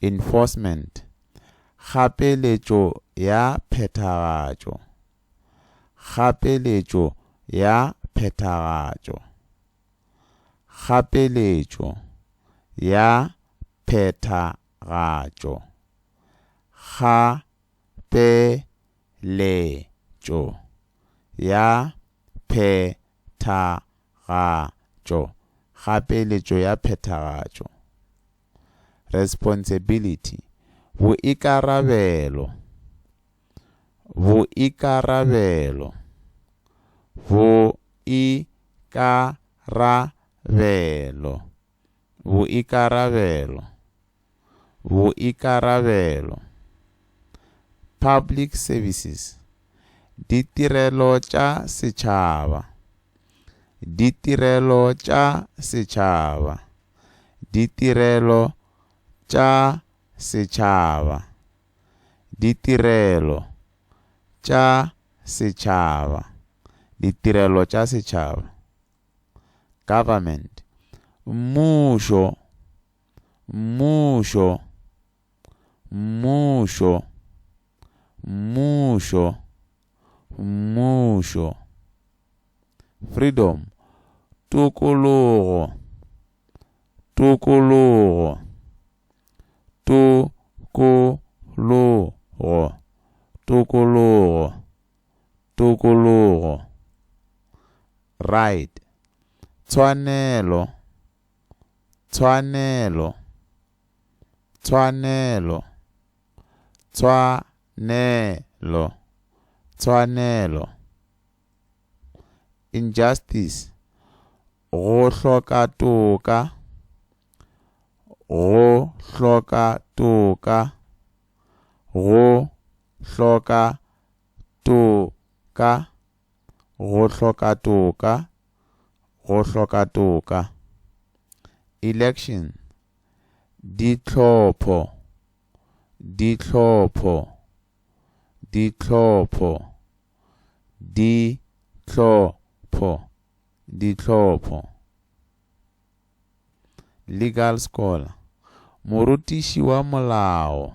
enforcement, kgapeletšo ya phethagatšo, kgapeletšo ya phethagatšo, kgapeletšo ya phethagatšo, kgapeletšo. tšweletšo ya phethagatšo kgapeletšo ya phethagatšo responsibility boikarabelo boikarabelo boikarabelo boikarabelo boikarabelo, public services, ditirelo tša setšhaba, ditirelo tša setšhaba, ditirelo tša setšhaba, ditirelo tša setšhaba, ditirelo tša setšhaba, government, mmušo. Mmušo. Mmušo. Mmušo. Mmušo. Freedom. Tokologo. Tokologo. Tokologo. Tokologo. Tokologo. Right. Tshwanelo. Tshwanelo. Tshwanelo. Tshwanelo. Tshwanelo. Injustice. Go hloka toka. Go hloka toka. Go hloka toka. Go hloka toka Go hloka toka Election Dihlopho Dihlopho Dihlopho Dihlopho Dihlopho Legal Scholar Morutiši wa molao